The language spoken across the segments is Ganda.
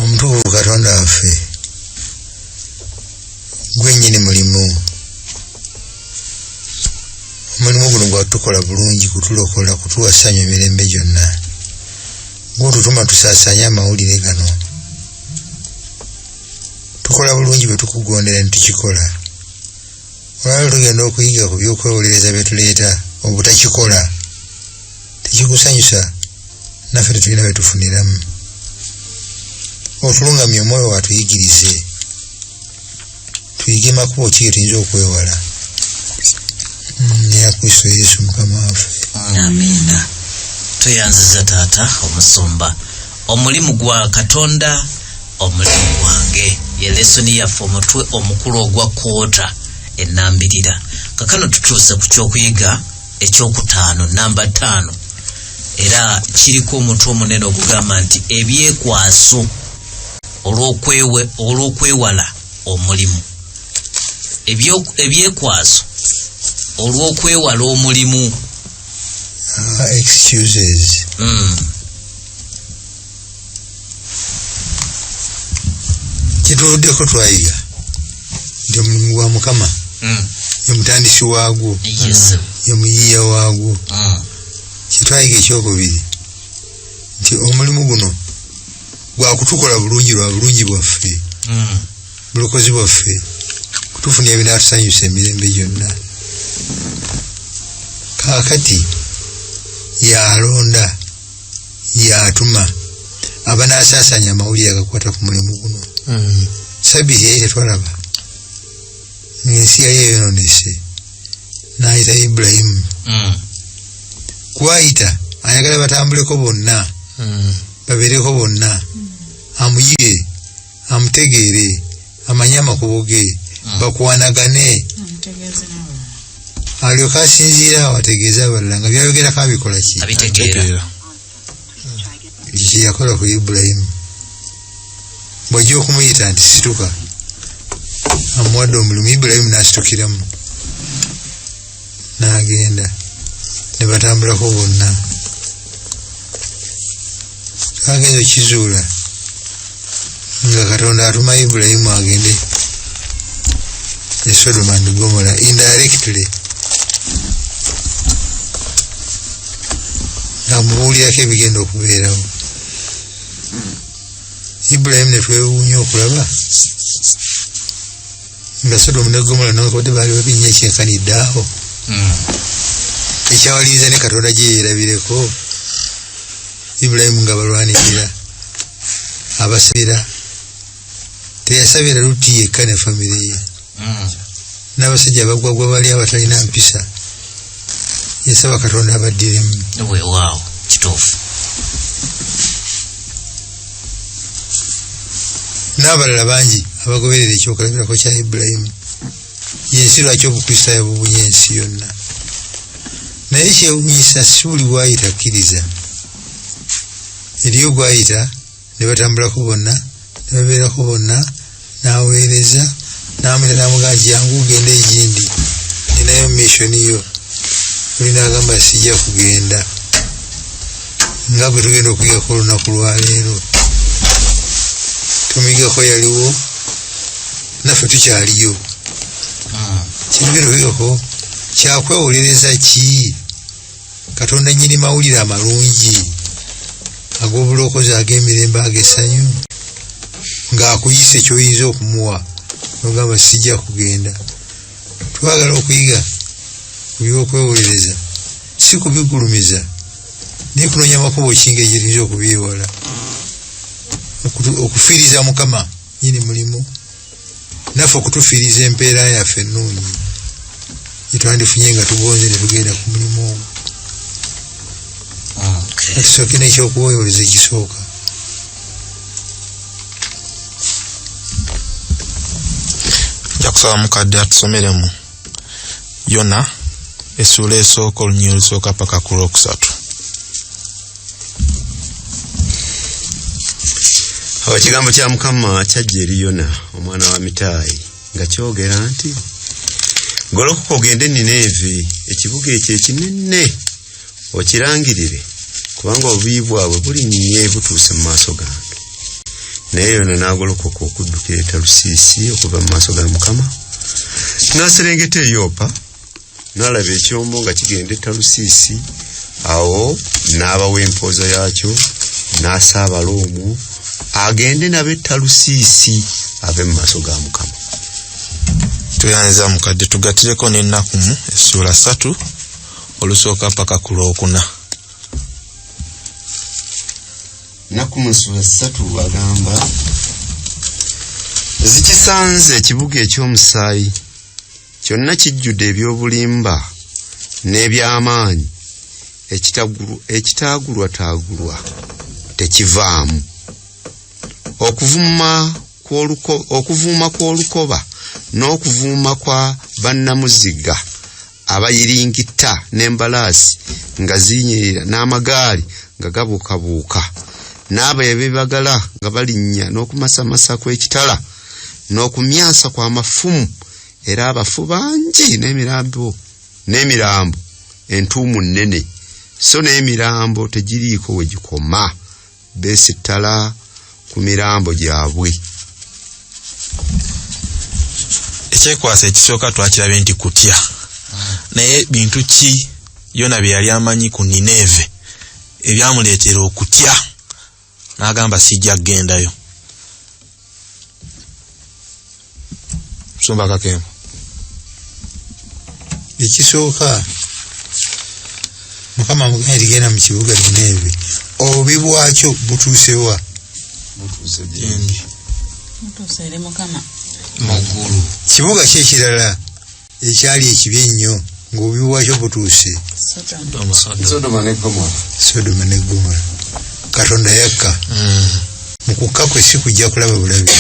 omutuufu katonda waffe gwenyini mulimu omulimu guno gwatukola bulungi kutulokola kutuwa ssanyu emirembe gyonna gwotutuma tusaasanye amawulire gano tukola bulungi bwe tukugondera ne tukikola olwalo tugenda okuyiga ku byokwewolereza bye tuleeta obutakikola tekikusanyusa naffe tetulina bwetufuniramu otulungamya omwoyo watuyigirize tuyige makubo ki getuyinza okwewala neya kristo yesu mukama waffe amiina tweyanziza taata omusumba omulimu gwa katonda omulimu gwange ye lesoni yaffe omutwe omukulu ogwa kwota enambirira kakano tutuuse ku kyokuyiga ekyokutaano namba taano era kiriko omutwe omunene ogugamba nti ebyekwaso olw'okwewala omulimu ebyekwaso olw'okwewala omulimu ah, excuses mm. kyetuvuddeko twayiga nti omulimu gwa mukama hmm. ye mutandisi waagwo ye muyiiya waagwo hmm. kyetwayiga ekyokubiri nti omulimu guno gwakutukola bulungi lwa bulungi bwaffe hmm. bulokozi bwaffe kutufuna ebinatusanyusa emirembe gyonna kakati yalonda yatuma abanasasanya amawulire agakwata ku mulimu guno hmm. sabiti yali tetwalaba ensi yali eyononese nayita ibulayimu hmm. kwayita ayagala batambuleko bonna hmm. babeereko bonna amuyire amutegeere amanye amakubo ge hmm. bakwanagane alyoka asinziira awo ategeeze abalala nga byayogerako abikola ki kyeyakola ku ibulayimu bwajja okumuyita nti situka amuwadde omulimu ibulayimu nasitukiramu n'agenda ne batambulako bonna twagenze okizuula nga katonda atuma ibulayimu agende e sodoma and gomola indirectly ngamubuulirako ebigenda okubeerawo ibulayimu netwewuunya okulaba nga sodomu ne gomola nokode baali babinnya ekyenkanidde awo hmm. ekyawaliriza ne katonda gye yeerabireko ibulayimu nga balwanirira abasabira teyasabira luti yekka ne famire ye hmm. n'abasajja abagwagwa bali abatalina mpisa yasaba katonda abaddiremu kituufu n'abalala bangi abagoberera ekyokulabirako kya ibulayimu yensi lwaki obukristaayo bubunye ensi yonna naye kyewunyisa si buli bwayita akkiriza eriyo gwayita ne batambulako bonna ne babeerako bonna n'aweereza n'amulya n'amugamba jangu ogende egindi ninayo missioni yo oli n'agamba sijja kugenda nga bwe tugenda okuyigako olunaku lwaleero tumigako yaliwo naffe tukyaliyo ah. kyetugenda okuyigako kyakwewolereza kii katonda nyini mawulire amalungi ag'obulokozi ag'emirembe ag'essanyu ng'akuyise kyoyinza okumuwa nogamba sijja kugenda twagala okuyiga ku by'okwewolereza si kubigulumiza naye kunoonya amakubo kinga egiyinza okubyewala okufiiriza mukama nyini mulimu naffe okutufiiriza empeera yaffe ennungi gyetwandifunye nga tugonze ne tugenda ku mulimu ogwo ah, ekisooke nekyokuwoyoleza ekisooka njakusaba mukadde atusomeremu yona essuula esooka olunyiri olusooka paka ku lwokusatu awo ekigambo kya mukama kyajja eri yona omwana wa mitaayi nga kyogera nti golokoka ogende nineevi ekibuga ekyo ekinene okirangirire kubanga obuyi bwabwe bulinnye butuuse mu maaso gange naye yona n'agolokoka okudduka e talusiisi okuva mu maaso ga mukama n'aserengeta eyoopa n'alaba ekyombo nga kigenda e talusiisi awo n'abawa empooza yaakyo n'asaabala omwo agende nabo e talusiisi ave mu maaso ga mukama tuyanza mukadde tugatireko n'ennakumu essuula satu olusooka mpaka ku lwokuna naku munsula ssatu agamba zikisanze ekibuga eky'omusaayi kyonna kijjudde eby'obulimba n'eby'amaanyi ekitaagulwataagulwa tekivaamu okuvuma okuvuuma kw'olukoba n'okuvuuma kwa bannamuziga abayiringitta n'embalaasi nga zinyirira n'amagaali nga gabuukabuuka n'abo ebibagala nga balinnya n'okumasamasa kw'ekitala n'okumyansa kw'amafumu era abafu bangi n'emirambo n'emirambo entuumu nnene so n'emirambo tegiriiko we gikoma beesittala ku mirambo gyabwe ekyekwasa ekisooka twakirabye nti kutya naye bintu ki yona bye yali amanyi ku nineeve ebyamuleetera okutya n'agamba sijja kugendayo musumba kakembo ekisooka mukama mugenda ligenda mu kibuga nineewe obubi bwakyo butuusewa butuuse gyendi mutuuseere mukama mu ggulu kibuga ki ekirala ekyali ekibi ennyo ng'obubi bwakyo butuuse sodoma ne gomora katonda yakka hmm. mu kukka kwe si kujja kulaba bulabi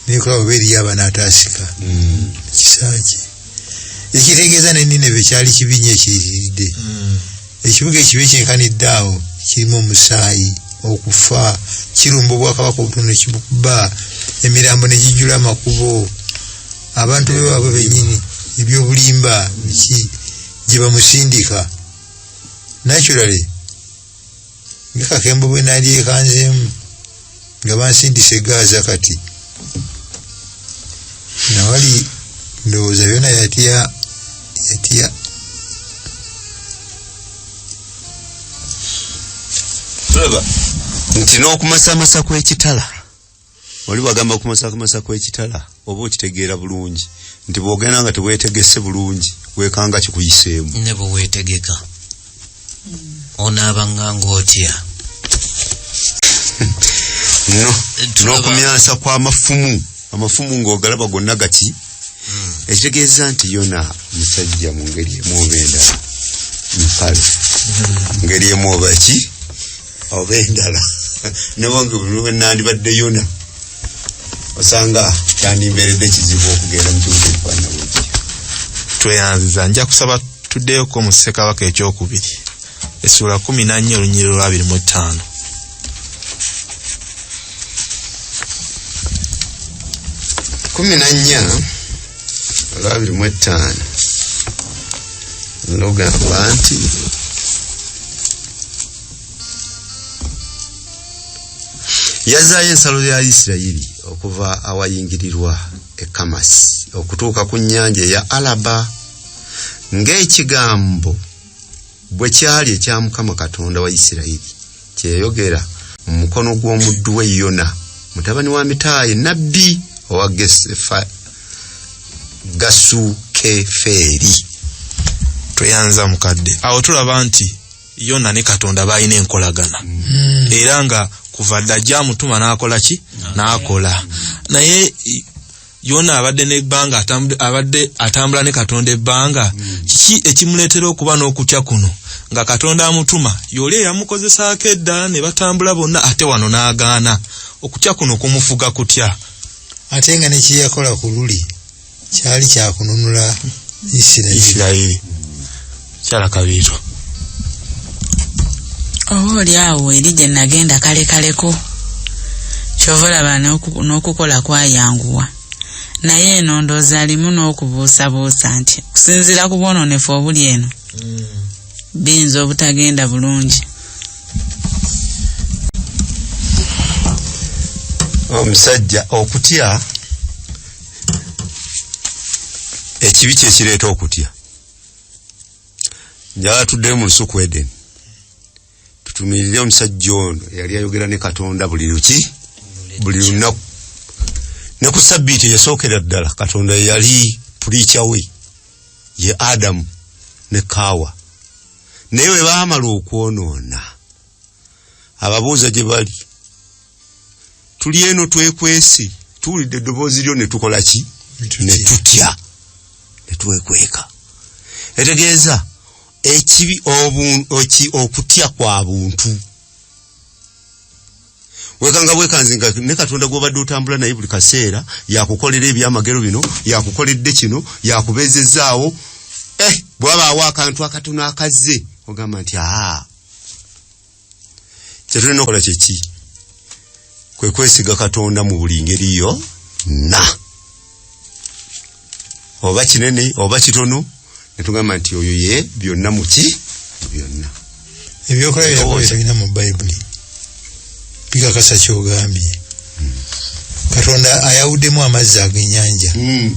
naye kulaba oba eriyo abanaataasika hmm. kisaaki ekitegeeza nenina ebyo kyali kibi nyo ekiyitiridde hmm. ekibuga ekibi kyenkanidde awo kirimu omusaayi okufa kirumba obwakabaka obutono ekibukuba emirambo negijjula amakubo abantu be baabwe benyini ebyobulimba biki gye bamusindika naturally ngakakembo bwe nalyekanzeemu nga bansindisa egaaza kati nawali ndowooza byona yatya yatya tulaba nti n'okumasamasa kw'ekitala wali wagamba okumasakumasa kw'ekitala oba okitegeera bulungi nti bwogenda nga tewetegese bulungi wekanga kikuyiseemu ne bwewetegeka hmm. onaabanganga otya no n'okumyansa kw'amafumu amafumu ng'ogalaba gonna gaki hmm. ekitegeeza nti yona musajja mu ngeri emu oba endala mpale hmm. ngeri emu oba ki oba endala newange nandibadde yona osanga kyandimbeeredde kizibu okugenda mu kibuga ekifaanana bwekyo tweyanziza nja kusaba tuddeyoko mu ssekabaka ekyokubiri essuula kumi nannya olunyiri olwabiri mu ttaano kumi nannya olwabiri mu ettaano lugamba nti yazzaayo ensalo ya isirayiri okuva awayingirirwa e kamasi okutuuka ku nnyanja eya alaba ng'ekigambo bwe kyali ekya mukama katonda wa isirayiri kyeyogera mu mukono gw'omuddu we yona mutabani wa mitaayi nabbi owa gasukefeeri tweyanza mukadde awo tulaba nti yona ne katonda balina enkolagana mm. era nga kuva dda gyamutuma nakola ki nakola naye yona abadde nebbanga abadde atambula ne katonda ebbanga mm. kiki ekimuleetera okuba n'okutya kuno nga katonda amutuma yoli eyamukozesaako edda ne batambula bonna ate wano n'agaana okutya kuno kumufuga kutya ate nga nekiyakola ku luli kyali kyakununula isirairi kyala kabiito oba oli awo eri gye nagenda kale kaleko kyova olaba n'okukola kwayanguwa naye eno ndoozi alimu n'okubuusabuusa nti okusinziira ku bwononefu obuli eno mm. biyinza obutagenda bulungi omusajja okutya ekibi kyekireeta okutya njala tuddeyo mu lusuku eden tutumirire omusajja ono eyali ayogera ne katonda buli luki buli lunaku ne ku sabbiiti eyasookera ddala katonda yeyali puliica we ye adamu ne kaawa naye bwe baamala okwonoona ababuuza gye bali tuli eno twekwese tuwulidde eddoboozi lyo ne tukola ki ne tutya ne twekweka etegeeza ekibi obuoki okutya kwa buntu wekanga bwekanzi nga ne katonda gwobadde otambula naye buli kaseera yakukolera ebyamagero bino yakukoledde kino yakubeezezaawo eh bwabaawo akantu akatono akazze ogamba nti aa kyetulina okola kyeki kwe kwesiga katonda mu buli ngeri yo na oba kinene oba kitono netugamba nti oyo ye byonna muki byonna ebyokola byakobyetulina mu bayibuli bikakasa kyogambye hmm. katonda ayawuddemu amazzi agenyanja mm.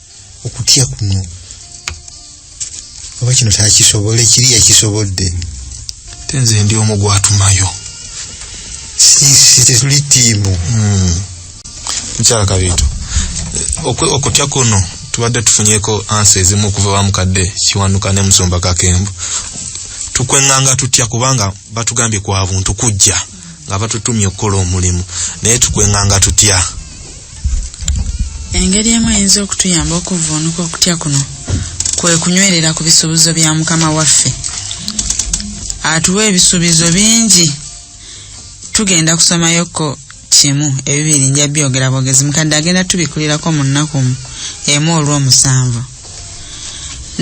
okutya kuno oba kino takisobole kiri yakisobodde te nze ndi omu gwatumayo tetuli tiimu hmm. mukyala kabiito okutya kuno tubadde tufunyeko ansa ezimu okuva bamukadde kiwanuka ne musumba kakembo tukwenganga tutya kubanga batugambye kwa buntu kujja nga batutumye okukola omulimu naye tukwenganga tutya engeri emu eyinza okutuyamba okuvuunuka okutya kuno kwe kunywerera ku bisuubizo bya mukama waffe atuwa ebisuubizo bingi tugenda kusomayoko kimu ebibiri nja byogera bwogezi mukadde agenda tubikulirako mu nnaku emu olw'omusanvu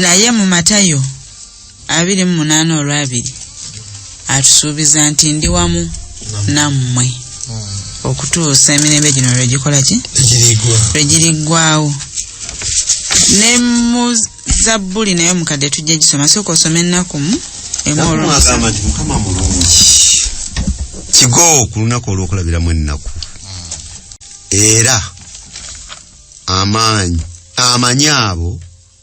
naye mu matayo abiri mu munaana olwabiri atusuubiza nti ndi wamu nammwe hmm. okutuusa emirembe gino lwegikola ki lwegiriggwawo ne mu zabbuli naye omukadde tujja gisoma sooka osoma ennakumu emuagamba nti mukama mulungi kigo ku lunaku olwokulabiramu ennaku hmm. era amaanyi amanyi abo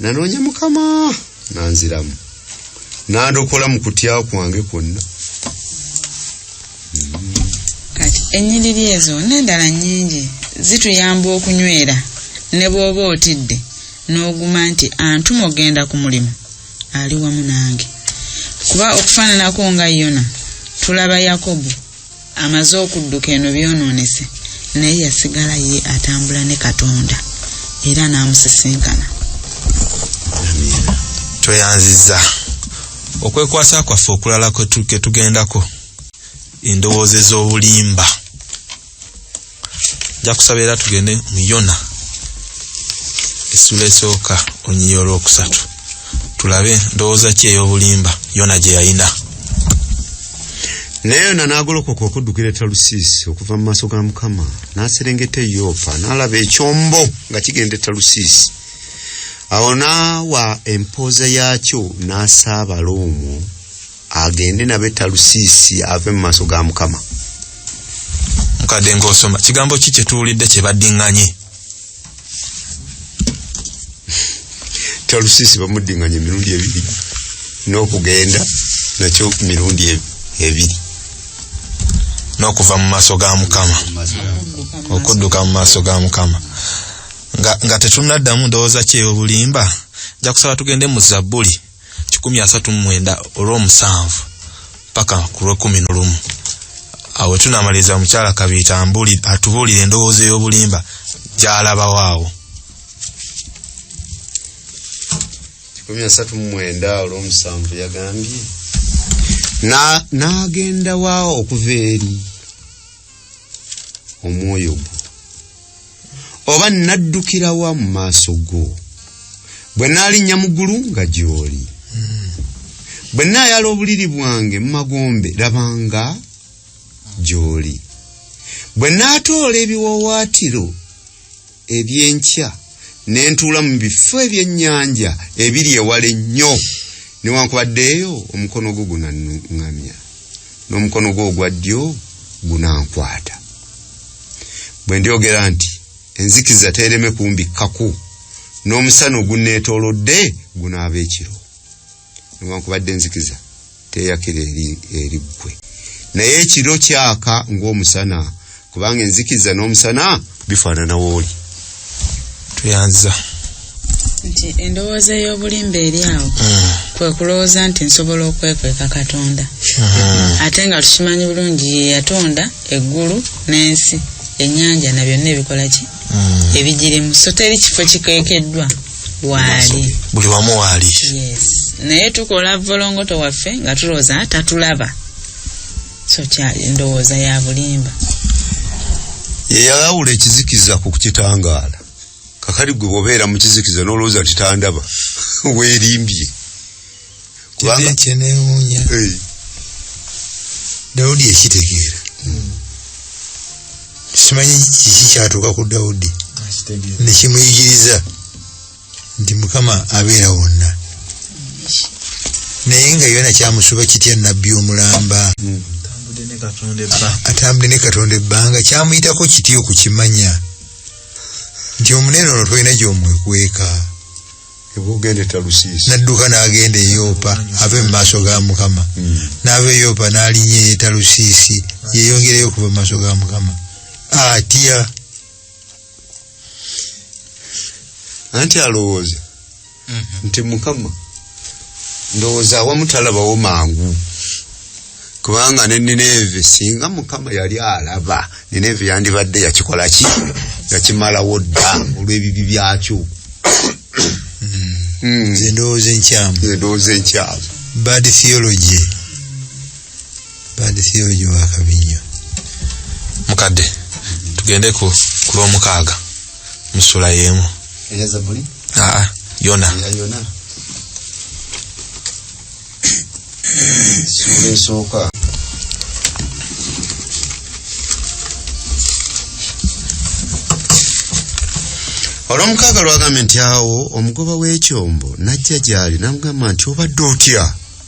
nanoonya mukama nanziramu nandokola mu kutya kwange kwonna kati ennyiriri ezo n'endala nnyingi zituyamba okunywera ne bw'oba otidde n'oguma nti antuma ogenda ku mulimu ali wamu nange kuba okufaananako nga yona tulaba yakobo amaze okudduka eno byonoonese naye yasigala ye atambula ne katonda era n'amusisinkana tweyanziza okwekwasa kwaffe okulala ketugendako endowooza ez'obulimba njakusaba era tugende mu yona esula esooka onyiya olwokusatu tulabe ndowooza ki ey'obulimba yona gye yayina naye yona n'agolokoka okuddukira etalusiisi okuva mu maaso ga mukama n'aserengeta eyoopa n'alaba ekyombo nga kigenda etalusiisi awo n'awa empooza yaakyo n'asaabala omwo agende nabe talusiisi ave mu maaso ga mukama mukadde ngaosoma kigambo ki kyetuwulidde kyebaddinganye talusiisi bamuddinganye emirundi ebiri n'okugenda nakyo mirundi e-, ebiri n'okuva mu maaso ga mukama okudduka mu maaso ga mukama nga tetunaddamu ndowooza kyeyo obulimba nja kusaba tugende mu zabbuli kikumi asatu mu mwenda olw'omusanvu paka ku lw'ekkumi n'olumu awo tunamaliriza omukyala kabiita atubuulira endowooza ey'obulimba gy'alabawo awo kikumi asatu mu mwenda olw'omusanvu yagambye n'agenda wa okuva eri omwoyo gwo oba nnaddukira wa mu maaso go bwe naalinnya mu ggulu nga gy'oli hmm. bwe naayala obuliri bwange mu magombe labanga gy'oli bwe naatoola ebiwawaatiro eby'enkya ne ntuula mu bifo ebyennyanja ebiri ewala ennyo newankubadde eyo omukono gwo gunanuŋŋamya n'omukono gwo ogwa ddyo gunankwata bwe ndyogera nti enzikiza teereme kumbikkako n'omusana ogunneetoolodde gunaaba ekiro newankubadde enzikiza teyakira eri eri ggwe naye ekiro kyaka ng'omusana kubanga enzikiza n'omusana bifaanana wooli tuyanziza nti endowooza ey'obulimba eri awo hmm. kwe kulowooza nti nsobola okwekweka katonda hmm. ate nga tukimanyi bulungi ye yatonda eggulu n'ensi ennyanja na byonna ebikola ki hmm. ebigirimu so teri kifo kikwekeddwa waali buli wamu waali naye tukola volongoto waffe nga tulowooza tatulaba so kyali ndowooza ya bulimba yeyalawula ekizikiza ku kukitangaala kakali gwe bwobeera mu kizikiza n'olowooza nti tandaba weerimbye kubanga kyenewuunya dawudi ekitegeera hmm. simanyi kiki kyatuuka ku dawudi nekimuyigiriza nti mukama abeera wonna naye nga yona kyamusoba kitya nabbi omulamba hmm. atambudde ne katonda ebbanga kyamuyitako kitya okukimanya nti omunene ono tolina gyomwekweka nadduka n'agenda eyopa ave mu maaso ga mukama hmm. n'ava eyopa n'alinya eyetalusiisi yeyongereyo okuva mu maaso ga mukama atya ah, anti alowooza mhm. nti mukama ndowooza awamu talabawo mangu kubanga ne nineve singa mukama yali alaba nineve yandibadde yakikola ki yakimalawo dda olw'ebibi byakyo hmm. Hmm. zendowooza enkyamu zendowooza enkyamu bad theology bad theory gye wakabi nnyo mukadde tugende ku kulwomukaaga musula yeemu aa yona sula esooka olwomukaaga lwagambye nti awo omugoba w'ekyombo najja gyali namugamba nti obadde otya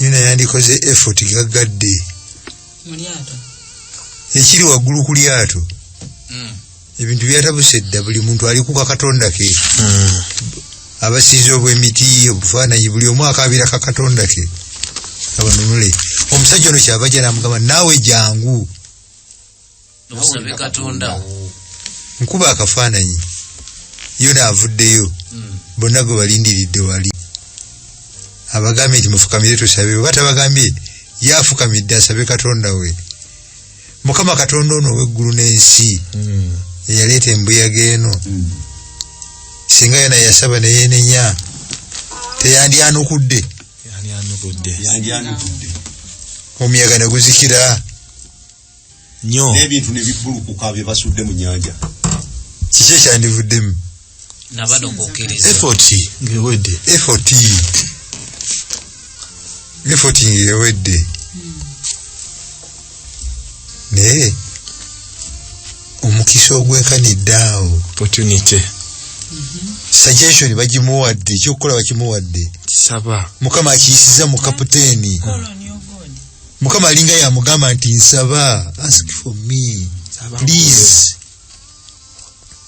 yona yandikoze effort gaggadde ekiri waggulu ku lyato hmm. ebintu byatabuse dda buli muntu ali kukakatonda ke hmm. abasiiza obwemiti obufaananyi buli omu akabira kakatonda ke abanunule omusajja ono kyava janamugamba naawe jangu nobusabe katonda nkuba akafaananyi yona avuddeyo hmm. bonna gwe balindiridde wali abagambye nti mufukamire tusabe oba tabagambye yafukamidde asabe katonda we mukama katonda ono oweggulu n'ensi hmm. eyaleeta embuyaga eno hmm. singa yona yasaba neyenenya teyandyanukudde omuyaga neguzikira nyo n'ebintu ne bibbulukuka bye basudde mu nyanja kiki ekyandivuddemu nabanogokereza effort ngewedde effort effort ngewedde hmm. naye nee. omukisa ogwekanidde awo opportunity mhm. suggestion bagimuwadde ekyokukola bakimuwadde kisaba mukama akiyisiza mu kaputeeni mukama alinga yamugamba nti nsaba ask for me please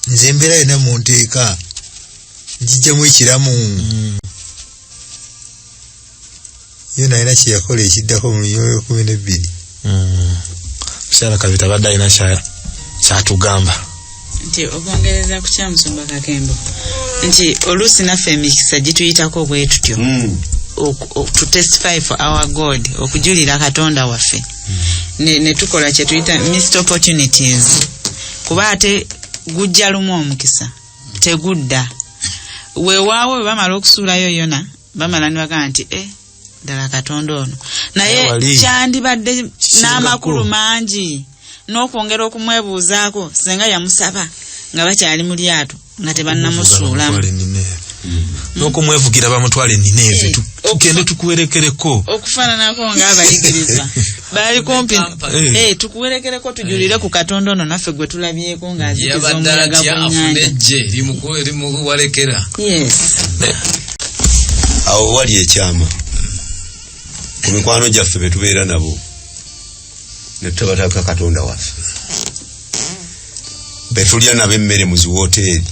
nze embeera yona munteeka njijjamu ekiramu mm. yo nalina kyeyakola ekiddako mu myoyo kumi nebbiri mm. mukyala kabita badde alina kyatugamba nti okwongereza ku kya musumba kakembo nti oluusi naffe emikisa gituyitako bwe tutyo hmm. to testify for our god okujulira katonda waffe hmm. netukola kyetuyita missed opportunities kuba ate gujja lumu omukisa tegudda wewaawo webamala okusuulayo yona bamala nibagaa nti e ddala katonda ono naye kyandibadde n'amakulu mangi n'okwongera okumwebuuzaako senga yamusaba nga bakyali mu lyato nga tebannamusuulamu n'okumwevugira bamutwale nineeve eh, tugende tukuwerekereko okufaananako ng'abayigiriza baali kumpi Eh. Eh, tukuwerekereko tujulire ku katonda ono naffe gwe tulabyeko ng'azikiza yabadde omuyaga atya afuna gw'ennyanja ejje limuku- limuwalekera yes awo wali ekyama ku mikwano gyaffe be tubeera nabo ne tutabataka katonda waffe be tulya nabo emmere mu ziwooteeri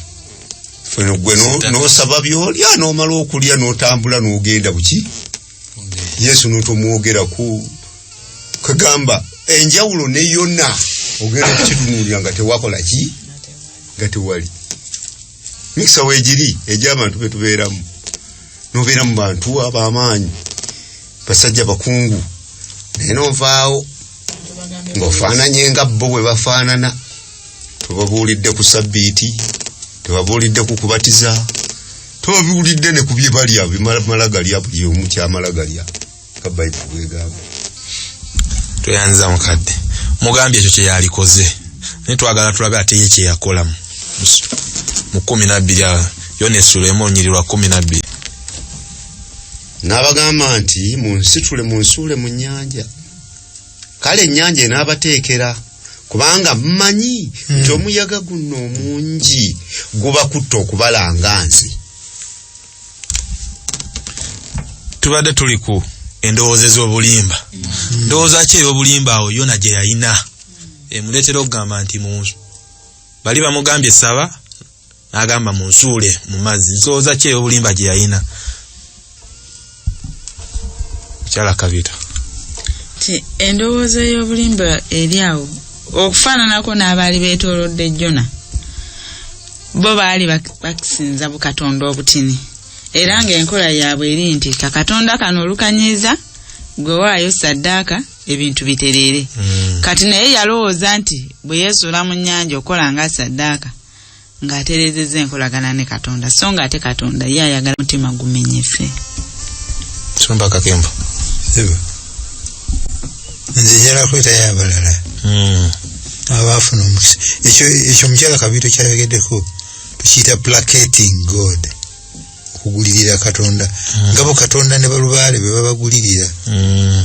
Ffe no- gwe no- Sitaka. n'osaba byolya n'omala okulya n'otambula n'ogenda buki yesu notomwogerako kagamba enjawulo ne yona ogenda okukitunulira nga tewakola ki nga tewali mikisa wegiri egyabantu betubeeramu nobeera mu bantu abamaanyi basajja bakungu naye novaawo ngaofaananye nga bo bwe bafaanana tubabuulidde ku sabbiiti tubabuulidde ku kubatiza tubabuulidde ne ku bye balya bimala galya buli omu kyamala galya ka bayibuli bwegamba tweyanziza mukadde mugambye ekyo kyeyalikoze naye twagala tulabe ate ye kyeyakolamu mu kumi nabbiri awo yona esula emu onyiri lwa kumi nabbiri n'abagamba nti munsitule munsuule mu nnyanja kale ennyanja enaabateekera kubanga mmanyi hmm. nti omuyaga guno omungi gubakutta okubalanga nze tubadde tuli ku endowooza ez'obulimba hmm. ndowooza ki ey'obulimba awo yona gye yalina emuleetera okugamba nti munsu bali bamugambye saba n'agamba mu nsuule mu mazzi nsooza ki ey'obulimba gye yalina mukyala kabita ti endowooza ey'obulimba eri awo okufaananako n'abaali beetoolodde jona bo baali bakisinza bukatonda obutini era ng'enkola yaabwe eri nti kakatonda kano olukanyiiza gwe waayo saddaaka ebintu bitereere hmm. kati naye yalowooza nti bwe yeesuula mu nnyanja okukola nga saddaaka ng'atereezezza enkolagana ne katonda so nga ate katonda ye ayagala mutima gumenyese somba kakembo nze njala kwetayo abalala hmm. abaafuna omukisa ekyo omukyala kabiito kyayogeddeko tukiyita placating god okugulirira katonda hmm. ngabo katonda ne balubaale bebabagulirira hmm.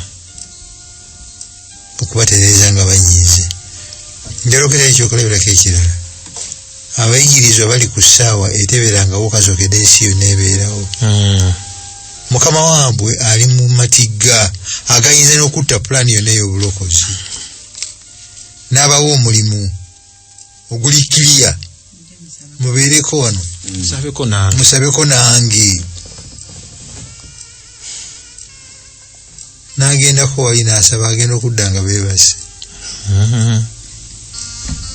okubatereeza nga banyiize njalogera ekyo okulabirako ekirala abayigirizwa bali ku ssaawa eteberangawo kazokede ensi yonna ebeerawo hmm. mukama wabwe ali mu matigga agayinza n'okutta pulaani yonna ey'obulokozi n'abawa omulimu oguli kiriya mubeereko wano mm. musabeko nange nagendako wali nasaba agenda okudda nga bebasi mm-hmm.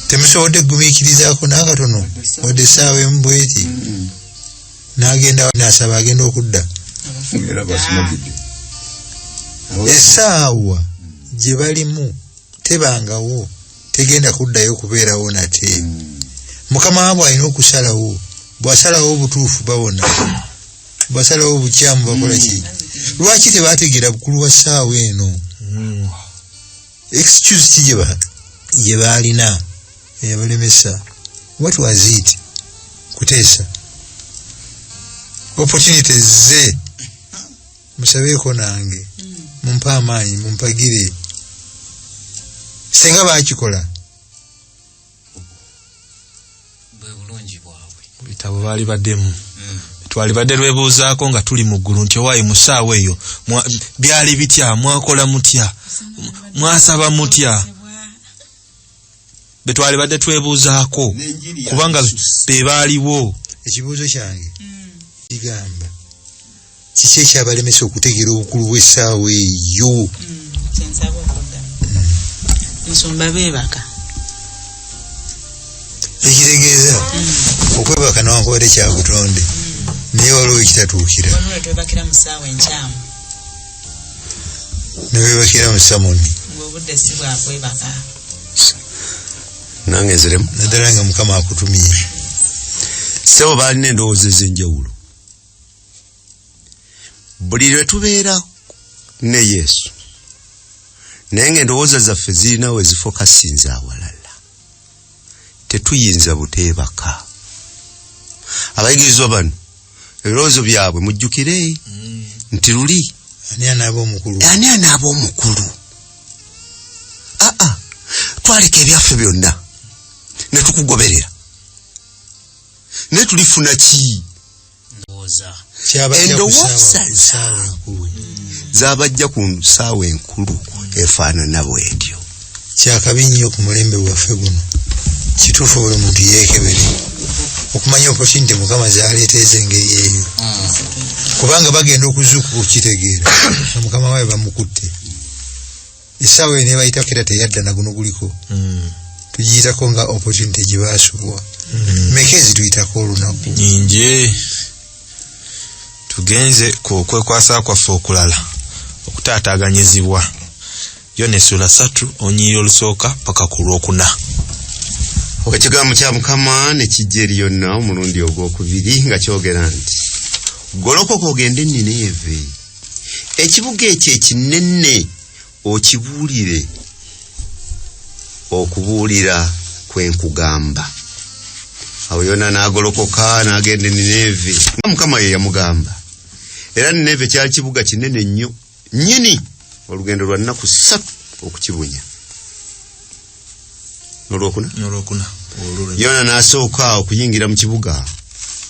temusobodde kugumiikirizako nakatono wadde esaawa emu bweti mm-hmm. nagenda nasaba agenda okudda esaawa gye balimu tebangawo tegenda kuddayo kubeerawo nate mukama wabwe alina okusalawo bwasalawo obutuufu bawona bwasalawo obukyamu bakola ki lwaki tebategeera bukulu wa ssaawa eno hmm. excuse ki gye baalina eyabalemesa what was it kuteesa opportunities ze musabeeko nange mumpe amaanyi mumpagire singa bakikola bitabo baali baddemu hmm. twali badde lwebuuzaako nga tuli mu ggulu nti owaayi mu ssaawa eyo byali bitya mwakola mutya mwasaba mutya be twalibadde twebuuzaako kubanga be baaliwo ekibuuzo kyange kigamba kiki ekyabalemesa okutegeera obukulu bw'essaawa eyo musumba beebaka ekitegeeza mm. okwebaka newankubadde kyabutonde mm. naye waliwo ekitatuukira nebebakira mu samoni ngobudde si bwakwebaka nange nziremu naddala nga mukama akutumire sebo balina endowooza ezenjawulo buli lwe tubeera ne yesu naye nga endowooza zaffe zirina we zifokasinza awalala tetuyinza buteebaka abayigirizwa bano ebirowoozo byabwe mujjukire mm. nti luli ani anaaba omukulu ani anaaba omukulu aa ah, ah. twaleka ebyaffe byonna netukugoberera naye tulifuna kii ndowooza endowooza zaabwe zabajja ku nsaawa enkulu efaanana bwetyo kyakabi nnyo ku mulembe gwaffe guno kituufu buli muntu yeekebere okumanya opportunity mukama zaleeta ezengeri eyo kubanga bagenda okuzuukuka okukitegeera mukama waayo bamukutte essaawa eyo nebayitako era teyadda naguno guliko mm. tugiyitako nga opportunity gye baasubwa mm. meka ezituyitako olunaku nyingi tugenze ku okwekwasa kwaffe okulala okutaataganyizibwa yo nesula satu onyiri olusooka paka ku lwokuna ekigambo kya mukama nekijja eri yonna omulundi ogwokubiri nga kyogera nti golokoka ogende nnineeve ekibuga ekyo ekinene okibuulire okubuulira kwenkugamba awo yona n'agolokoka n'agenda enineevi nga mukama ye yamugamba era nineevi kyali kibuga kinene nnyo nnyini olugendo lwa nnaku ssatu okukibunya nolwokuna nolwokuna yona nasooka okuyingira mu kibuga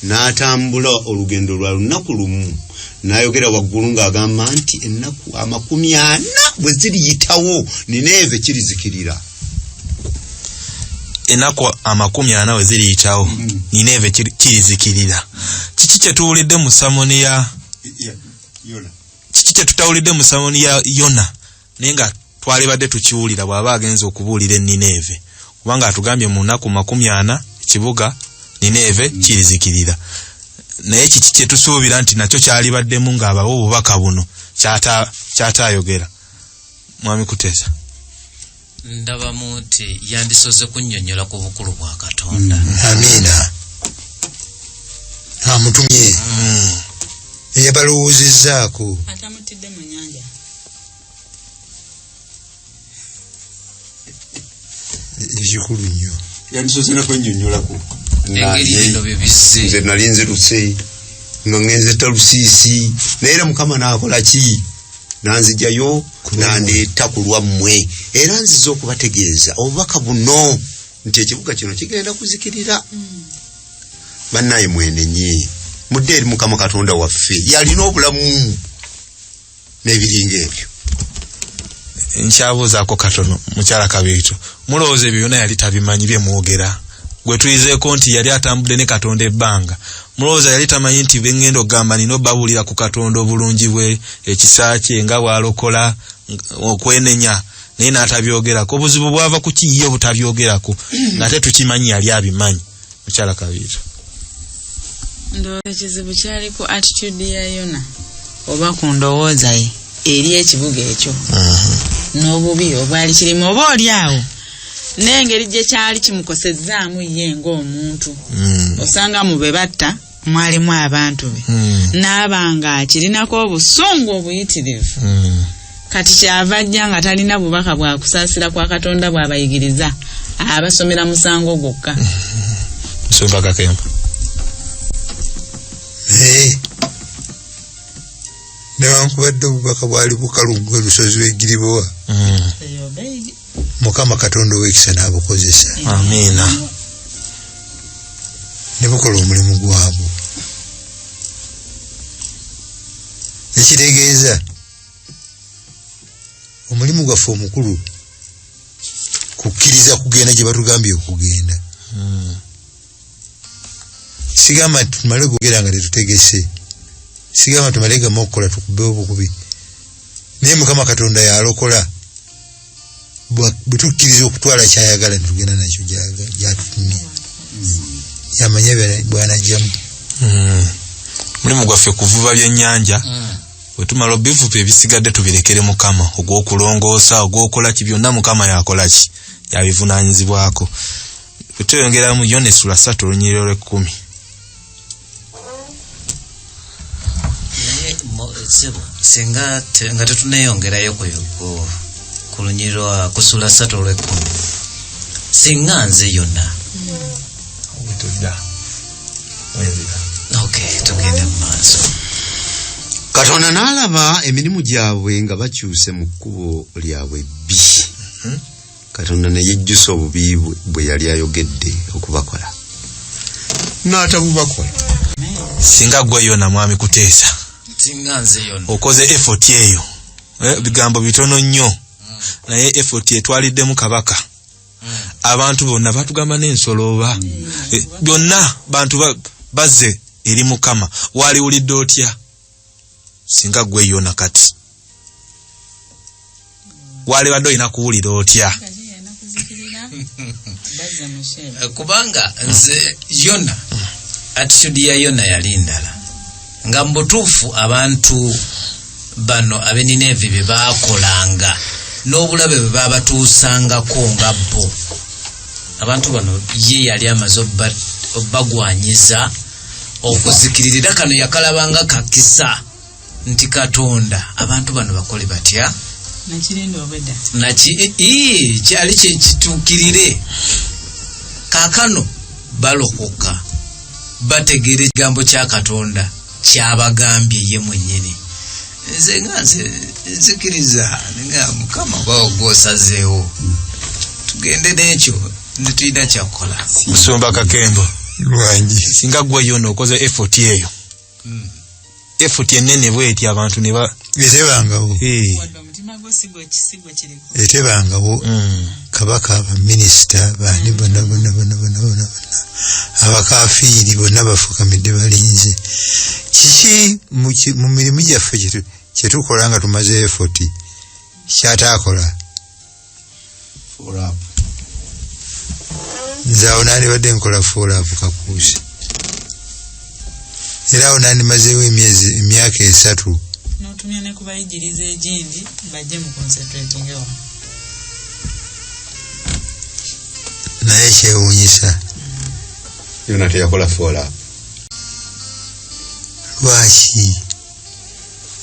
n'atambula olugendo lwa lunaku lumu n'ayogera waggulu ng'agamba nti ennaku amakumi ana bwe ziriyitawo nineeve kirizikirira ennaku amakumi ana bwe ziriyitawo mm. nineeve kirizikirira kiki kye tuwulidde mu samoni ya kiki kye tutawulidde mu samoni ya yona naye nga twalibadde tukiwulira bw'aba agenza okubuulira e nineeve kubanga atugambye mu nnaku makumi ana ekibuga nineeve mm. kirizikirira naye kiki kye tusuubira nti nakyo kyalibaddemu ng'abawa obubaka buno kyataayogera mwami kuteesa ndabamu nti yandisoze kunnyonnyola ku bukulu bwa katonda mm. amiina amutumye mm. eyabalowoozezzaako atamutidde mu nyanja ekikulu nnyo yandisoze nakwenyonyolako engeri bino bye bizze nze nali nziruse nga ngenze talusiisi naye era mukama nakola ki nanzijayo nandeeta ku lwammwe era nziza okubategeeza obubaka buno nti ekibuga kino kigenda kuzikirira bannaye mwenenye mudde eri mukama katonda waffe yalina obulamu n'ebiringa ebyo nkyabuuzaako katono mukyala kabiito mulowooza ebyo byona yali tabimanyi bye mwogera gwe tuyizeeko nti yali atambudde ne katonda ebbanga mulowooza yali tamanyi nti bengenda okugamba nina obabuulira ku katonda obulungi bwe ekisa kye nga bwalokola okwenenya naye n'atabyogerako obuzibu bwava ku kiyiye obutabyogerako ng'ate tukimanyi yali abimanyi mukyala kabiira ndowooza ekizibu kyali ku attitude ya yona oba ku ndowooza ye eri ekibuga ekyo n'obubi obwali kirimu oba oli awo n'engeri gye kyali kimukosezzaamu ye ng'omuntu mm. osanga mu be batta mwalimu abantu be Mm. n'aba ng'akirinako obusungu obuyitirivu Mm. kati kyava ajja nga talina bubaka bwa kusaasira kwa katonda bw'abayigiriza abasomera musango gwokka Musumba Kakembo. naye newankubadde obubaka bwali bukalu gwe lusozi lwegiribowa Mm. mukama katonda owekisa nabukozesa amiina nebukola omulimu gwabwe nekitegeeza omulimu gwaffe omukulu kukkiriza kugenda gye batugambye okugenda hmm. sigamba nti tumale gogera nga tetutegese sigamba tumale gamu okukola tukube obukubi naye mukama katonda yalokola bwetukkiriza okutwala kyayagala netugenda nakyo gyatutumye yamanya bwanajjamu hmm. mulimu gwaffe kuvuba byenyanja hmm. wetumala obivuba ebisigadde tubirekere mukama ogwokulongoosa ogwokolaki byonna mukama yakolaki yabivunanyizibwako tweyongeramu yona esula satu olunyiriro lwekkumi singa nga tetuneyongerayo ku lunyiriro kusula satu olwekkumi singa nze yona tugende mu maaso katonda n'alaba emirimu gyabwe nga bakyuse mu kkubo lyabwe bbi hmm? katonda ne yejjusa obubi bwe yali ayogedde okubakola n'atabubakola singa gwe yona mwami kuteesa okoze efoti eyo eh, bigambo bitono nnyo hmm. naye efoti etwaliddemu kabaka hmm. abantu bonna batugamba n'ensolo oba hmm. eh, byonna bantu bazze eri mukama waliwulidde otya singa gwe yona kati wale bado ina kuulira otya eh, kubanga nze yona attitude ya yona yali ndala nga mbutuufu abantu bano abeninaevi bye bakolanga n'obulabe bwe babatuusangako nga bo abantu bano ye yali amaze obbagwanyiza okuzikirira era kano yakalabanga kakisa nti katonda abantu bano bakole batya naki kyali kyekituukirire kakano balokoka bategeera ekigambo kya katonda kyabagambye ye mwenyini nze nga nze nzikiriza nga mukama bawo gwosazeewo tugende n'ekyo netulina kyakukola musumba kakembo lwangi singa gwe yona okoze effort eyo hmm. effort enene bweti abantu ne ba birebangawo etebangawo mm. kabaka abaminisita bani bona bona bona bona bona abakafiiri bonna bafukamidde balinze kiki mu mirimu gyaffe kyetukola nga tumaze efoti kyataakola nze awo nandibadde nkola fuolaapu kakuusi era awo nandimazeewo emyezi emyaka esatu notumya ne kubayigiriza egindi bajje mu concentrating ewa naye kyewunyisa yona teyakola fola lwaki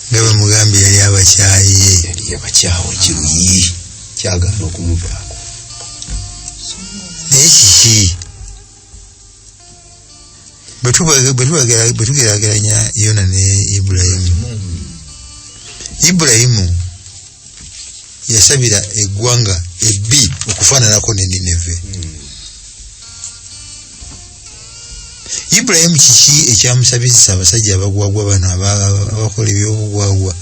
nga bamugambye yali abakyaye yali abakyawo kiruyi kyagaana okumuvaako naye kiki bwe tugerageranya yona ne ibulayimu ibulayimu yasabira eggwanga ebbi okufaananako ne nineve ibulayimu kiki ekyamusabizisa abasajja abagwagwa bano abakola ebyobugwagwa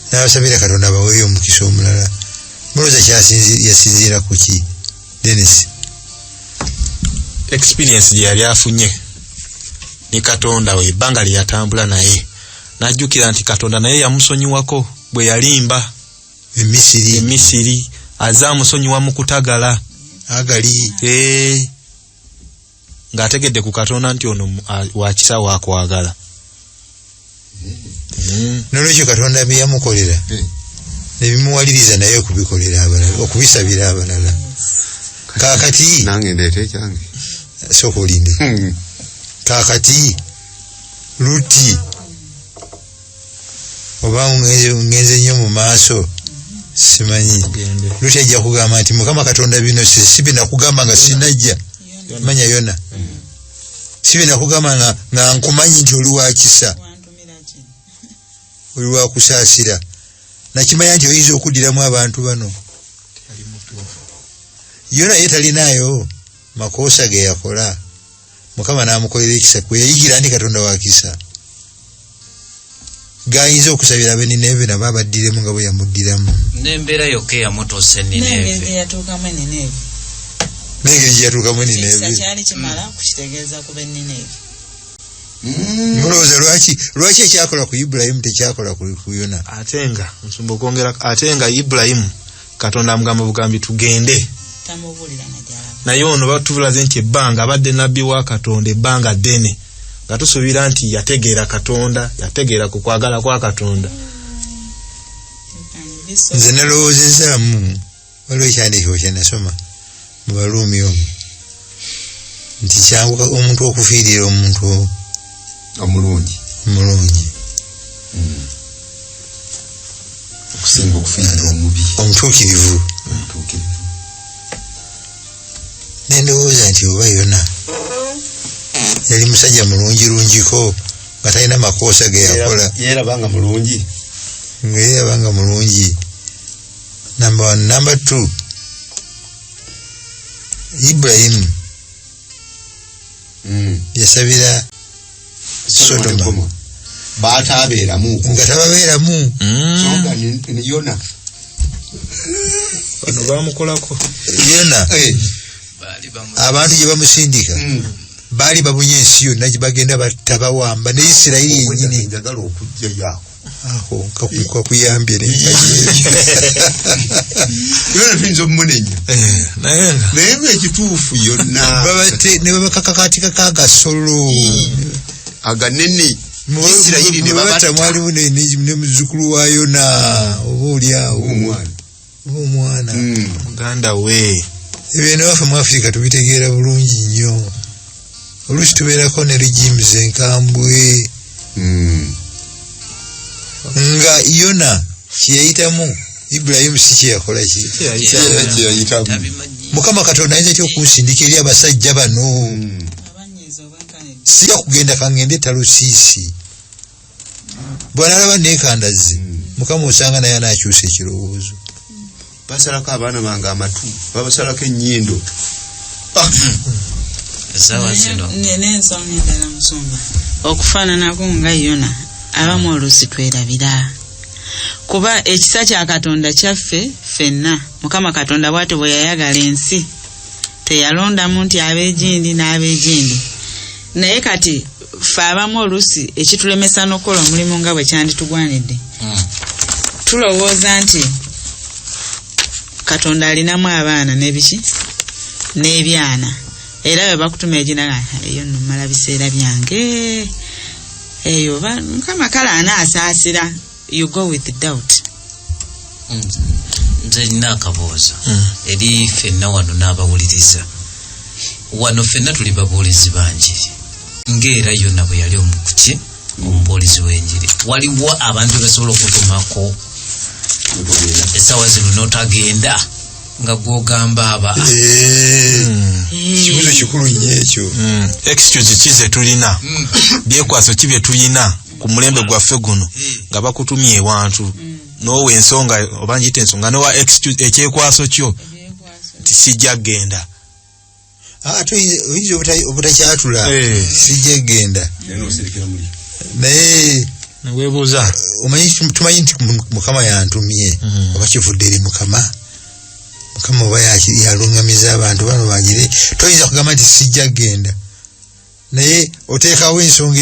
n'abasabira katonda abaweeyo omukisa omulala muloza yasinziira ku ki denis experience gye yali afunye ne katonda we ebbanga lye yatambula naye najjukira nti katonda naye yamusonyiwako bwe yalimba emisiri emisiri aze amusonyiwa mu kutagala agali ee eh. ng'ategedde ku katonda nti ono wakisa wakwagala mm. nolwekyo katonda byeyamukolera eh. nebimuwaliriza naye okubikolera abalala okubisabira abalala kakati nange ndeeta ekyange sooka olinde hmm. kakati luti oba ngenze nnyo mu maaso simanyi lutya ajja kugamba nti mukama katonda bino sibinakugamba nga sinajja manya yona mm. sibinakugamba nga nkumanyi nti oli wakisa oli wakusaasira nakimanya nti oyinza okuddiramu abantu bano yona ye talinaayo makoosa ge yakola mukama namukolera ekisa kweyayigira nti katonda wakisa gayinza okusabira abe nineve nabo abaddiremu nga bweyamuddiramu nembeera yokka eyamutuusa enineve nengeri gyeyatuukamu enineve Mm. mulowooza lwaki lwaki ekyakola ku ibulayimu tekyakola ku yona ate nga nsumba okwongera ate nga ibulayimu katonda amugamba bugambi tugende naye ono batubulaze nti ebbanga abadde nabbi wa katonda ebbanga ddene nga tusuubira nti yategeera katonda yategeera ku kwagala kwa katonda nze nalowoozezaamu waliwo ekyandiikibwa kyenasoma mu baluumi omu nti kyangu omuntu okufiirira omuntu omulungi omulungi hmm. okusinga okufiirira omubi omutuukirivu nendowooza nti oba yona yali musajja mulungi lungiko nga talina makoosa ge yakola yeerabanga mulungi nga yeerabanga mulungi number one number two ibulayimu mm. yasabira sodoma baatabeeramu nga tababeeramu mm. yona bano bamukolako yona eh. abantu gye bamusindika mm. baali babunye ensi yonna gye bagenda batta bawamba ne isirayiri yenyini aho kakuyambye yona tuyinza omumunenya naye nga ekituufu yonna nebabakakakatika kagasolo aganene isirayiri nebabatamwalimu nemuzukulu wa yona oba olyawo omwana ng'omwana hmm. muganda we ebyo nawafe mu afirika tubitegeera bulungi nnyo oluusi tubeerako ne regimes enkambwe hmm. nga yona kyeyayitamu ibulayimu si kyeyakola kyeyayitamu mukama katonda ayinza ty okunsindika eri abasajja bano hmm. sija kugenda kangende talusiisi bwanalaba nekandazze hmm. mukama osanga naye anakyusa ekirowoozo basalako abaana bange amatu babasalako enyindo ah! okufaananako nga yona abamu oluusi twerabira kuba ekisa kya katonda kyaffe fenna mukama katonda bwatyo bwe yayagala ensi teyalondamu nti ab'egindi n'ab'egindi naye kati ffe abamu oluusi ekitulemesa n'okukola omulimu nga bwe kyanditugwanidde hmm. tulowooza nti katonda alinamu abaana n'ebiki n'ebyana era bwe bakutuma eginaga eyo nno mala biseera byange eyo mukama kale anaasaasira you go with doubt nze nina akaboozo hmm. eri fenna wano n'abawuliriza wano fenna tuli babuulizi banjiri ngaera yona bwe yali omukuki omubuulizi w'enjiri waliwo abantu bebasobola okutumako esawa zino notagenda nga gwogamba aba eh. hmm. kibuzo kikulu nyo ekyo hmm. excuse ki zetulina hmm. byekwaso ki byetulina ku mulembe gwaffe guno nga bakutumye ewantu mm. nowa ensonga oba njita ensonga nowa ekyekwaso kyo nti sijja genda ah, ate oyinza obutakyatula eh. sijja genda naye webuuza omanyi tumanyi nti mukama yantumye mm. oba kivudde eri mukama mukama oba yalungamiza abantu bano bagire toyinza kugamba nti sijja genda naye oteekawo ensonga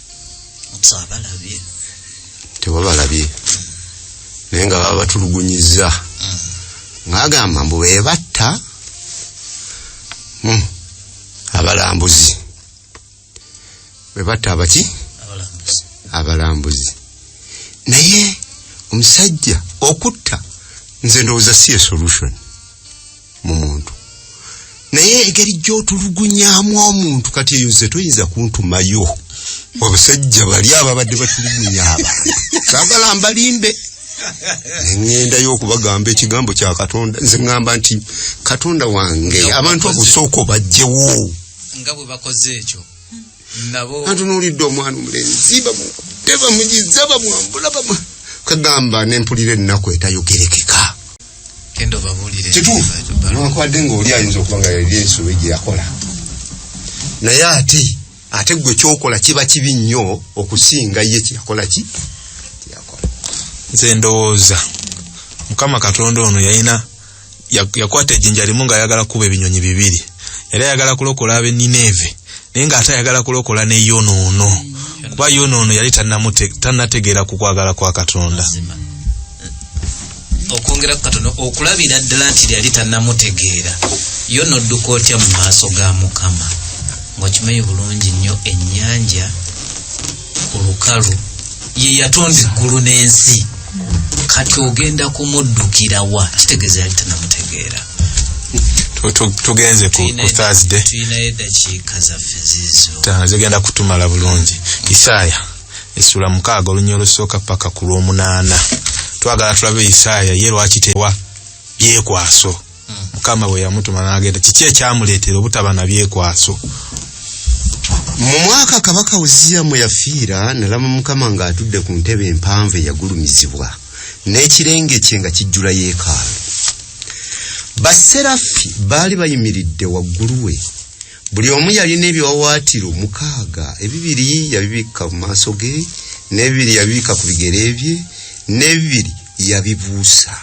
tewabalabye naye nga baba batulugunyiza mm. ngagamba mbu bebatta hmm. abalambuzi bebatta abaki abalambuzi naye omusajja okutta nze ndowooza si esolution mu muntu naye engeri gy'otulugunyamu omuntu kati eyo nze toyinza kuntumayo obusajja bali ababadde batulugunya abantu sagala mbalimbe engenda yokubagamba ekigambo kya katonda nze ngamba nti katonda wange abantu abusooka obajjewo nga bwe bakoze ekyo antunuulidde omwana omulenzi bamukutte bamugiza bamwambula bamu kagamba nempulira ennaku etayogerekeka kituufunewankubadde ngaoli ayinza okuba nga yali ensobe gye yakola naye ate ate gwe kyokola kiba kibi nnyo okusinga ye kyeyakola ki kyeyakola nze ndowooza mukama katonda ono yalina yakwata ejinja limu nga ayagala kuba ebinyonyi bibiri yali ayagala kulokola abe nineve naye nga ate ayagala kulokola ne yonoono kuba yonoono yali tanategeera ku kwagala kwa katonda okwongera ku katono okulabira ddala nti lyali tanamutegeera yo nodduka otya mu maaso ga mukama ngaokimanyi bulungi nnyo ennyanja ku lukalu ye yatonda eggulu n'ensi kati ogenda kumuddukira wa kitegeeza yali tanamutegeera tugenze ku thursday tulinayo eddakiika zaffe zizo zigenda kutumala bulungi isaaya esula mukaaga olunya olusooka paka ku lw'omunaana twagala tulabe isaaya ye lwaki tewa byekwaso mukama bwe yamutuma n'agenda kiki ekyamuleetera obutaba na byekwaso mu mwaka kabaka uziya mwe yafiira nalama mukama ng'atudde ku ntebe empanvu eyagulumizibwa n'ekirenge kye nga kijjula yeekaalu baserafi baali bayimiridde waggulu we buli omu yalina ebiwawaatiro mukaaga ebibiri yabibikka mu maaso ge n'ebibiri yabibikka ku bigere bye n'ebibiri yabibuusa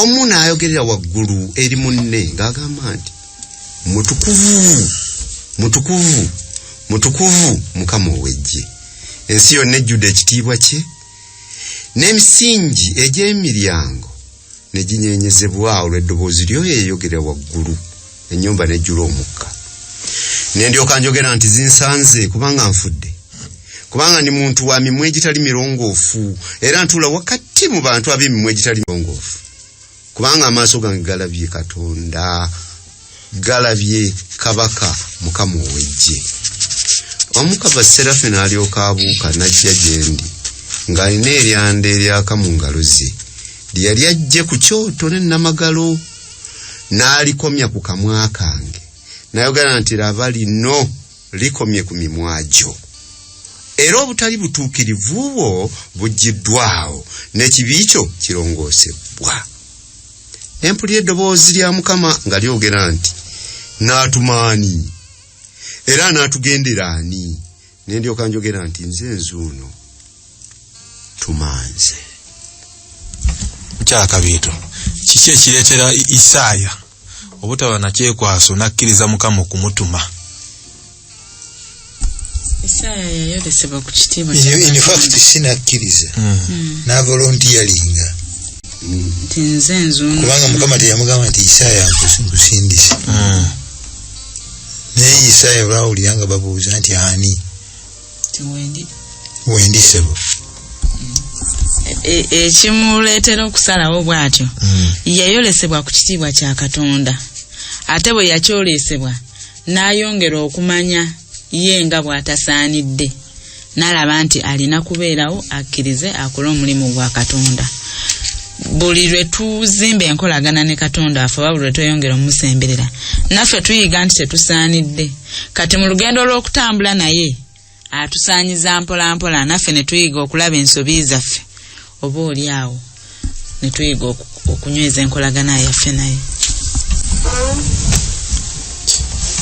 omu n'ayogerera waggulu eri munne ng'agamba nti mutukuvu mutukuvu mutukuvu mukama ow'eggye ensi yonna ejjudde ekitiibwa kye n'emisingi egy'emiryango ne ginyeenyezebwa olw'eddoboozi lyo yeeyogera waggulu ennyumba nejjula omukka ne ndyoka njogera nti zinsanze kubanga nfudde kubanga ndi muntu wa mimwa egitali mirongoofu era ntuula wakati mu bantu ab'emimwa egitali mirongoofu kubanga amaaso gange galabye katonda galabye kabaka mukama ow'eggye omukava serafe n'alyoka abuuka n'ajja gye ndi ng'alina eryanda eryaka mu ngalo ze lye yali ajje ku kyoto ne namagalo n'alikomya ku kamwa kange nayogera nti laba lino likomye ku mimwa gyo era obutali butuukirivu bwo buggiddwawo n'ekibi kyo kirongoosebbwa ne mpulira eddoboozi lya mukama nga lyogera nti naatumaani era naatugendera ani ne ndyoka njogera nti nze nzuuno tumanze kyakabiito kiki ekireetera isaaya obutaba nakyekwaso nakkiriza mukama okumutuma infact sinakkiriza hmm. hmm. navolontiyalinga kubanga mukama teyamugamba nti isaaya nkusindise hmm. naye isaaya olwawulira nga babuuza nti ani wendi sebo e, ekimuleetera okusalawo bw'atyo hmm. yayolesebwa ku kitiibwa kya katonda ate bwe yakyolesebwa n'ayongera okumanya ye nga bw'atasaanidde n'alaba nti alina kubeerawo akkirize akole omulimu gwa katonda buli lwe tuzimba enkolagana ne katonda afe oba buli lwe tweyongera omusemberera naffe tuyiga nti tetusaanidde kati mu lugendo lw'okutambula naye atusaanyiza mpolampola naffe ne tuyiga okulaba ensobi zaffe oba oli awo ne tuyiga okunyweza enkolagana yaffe naye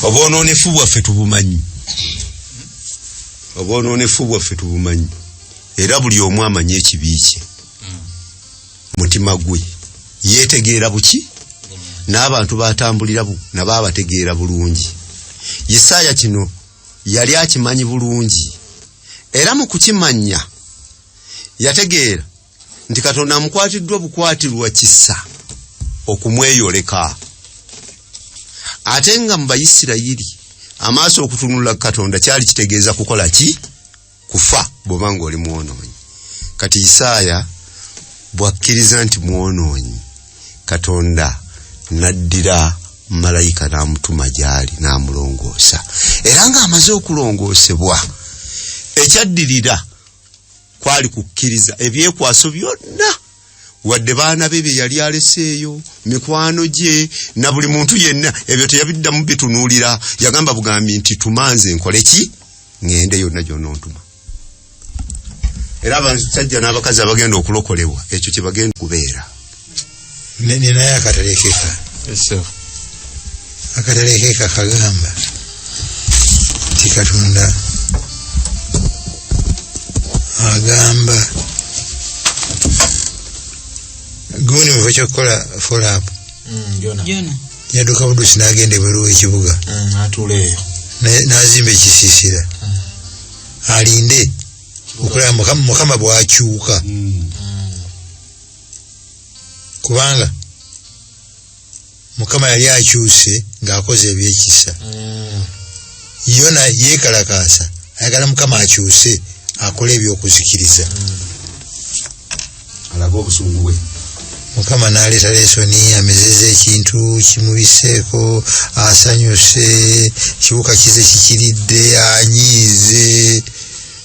obwononefu bwaffe tubumanyi obwononefu bwaffe tubumanyi era buli omu amanyi ekibi kye mutima gwe yetegeera buki n'abantu batambulira nabo abategeera bulungi isaaya kino yali akimanyi bulungi era mu kukimanya yategeera nti katonda amukwatiddwa obukwatirwa kisa okumweyoleka ate nga mu bayisirayiri amaaso okutunula katonda kyali kitegeeza kukola ki kufa bwoba nga oli mwonoonyi kati isaaya bwakkiriza nti mwonoonyi katonda naddira malayika n'amutuma gy'ali n'amulongoosa era ng'amaze okulongoosebwa ekyaddirira kwali kukkiriza ebyekwaso byonna wadde baana be bye yali aleseeyo mikwano gye na buli muntu yenna ebyo teyabiddamu bitunuulira yagamba bugambi nti tumanze nkole ki ŋŋende yonna gyonna ontuma era abasajja n'abakazi abagenda okulokolebwa ekyo kye bagenda okubeera nene naye akatalekeka akatalekeka kagamba ti katonda agamba gundi muva kyokukola folapu mm, yaduka budusi nagenda ebweru wekibuga mm, nazimba ekisiisira mm. alinde okulaba mukama bwakyuka kubanga mukama yali akyuse ng'akoze ebyekisa mm. yona yeekalakaasa ayagala mukama akyuse akola ebyokuzikiriza mm. alaga obusungu bwe mukama naleeta lesoni amezeza ekintu kimubiseeko asanyuse kibuka kize kikiridde anyiize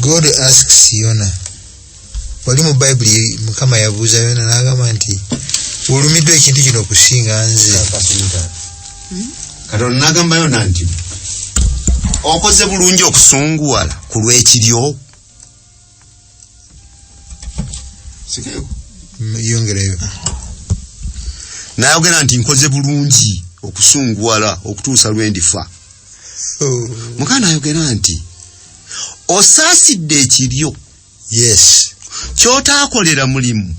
God asks Yona. Wali mu Bible mukama yabuuza Yona n'agamba nti olumiddwa ekintu kino okusinga nze. Hmm? Katonda n'agamba Yona nti okoze bulungi okusunguwala ku lw'ekiryo. Yongerayo. N'ayogera nti nkoze bulungi okusunguwala okutuusa lwe ndifa. Oh. Mukama ayogera nti. osaasidde ekiryo yes kyotaakolera mulimu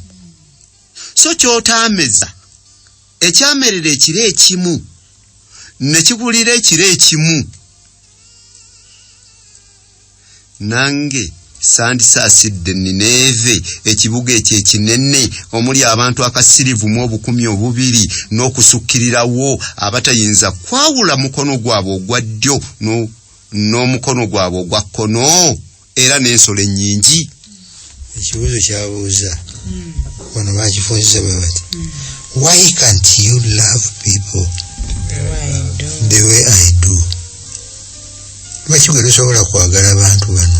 so kyotaameza ekyamerera ekiro ekimu ne kigulira ekiro ekimu nange sandisaasidde nineeve ekibuga ekyo ekinene omuli abantu akasirivu mu obukumi obubiri n'okusukkirirawo abatayinza kwawula mukono gwabwe ogwa ddyo n'omukono gwabwe ogwa kkono era n'ensolo ennyingi ekibuuzo kyabuuza hmm. wano bakifunziza bwe bati hmm. why can't you love people the way i do lwaki gwe tosobola kwagala abantu bano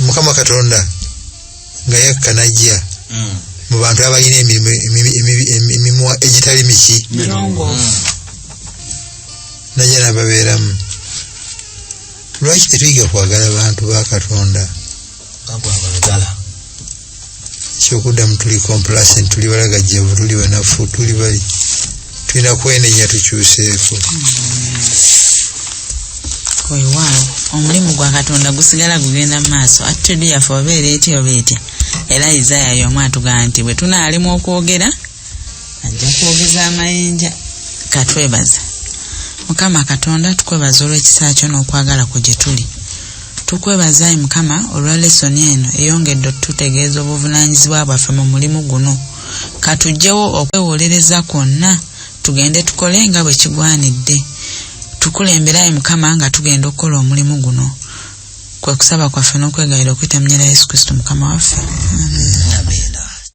mukama katonda nga yakka najja mm. mu bantu abalina emimwa egitali miki najja nababeeramu lwaki tetuyiga kwagala bantu ba katonda kyokudamu tuli complacent tuli balagajjavu tuli banafu tuli bali tulina kwenenya tukyuseeko oyo waawo omulimu gwa katonda gusigala gugenda mu maaso attitude yaffe obeera etya oba etya era isaya yomu atugaa nti bwe tunaalimu okwogera ajja kwogeza amayinja katwebaza mukama katonda tukwebaza olw'ekisa kyo n'okwagala kwe gye tuli tukwebaza ayi mukama olwa lesoni eno eyongedde otutegeeza obuvunaanyizibwa bwaffe mu mulimu guno katujjewo okwewolereza kwonna tugende tukole nga bwe kigwanidde tukulembera ayi mukama nga tugenda okukola omulimu guno kwe kusaba kwaffe n'okwegayira okuyita mu nyera yesu kristo mukama waffe Amen. Amen.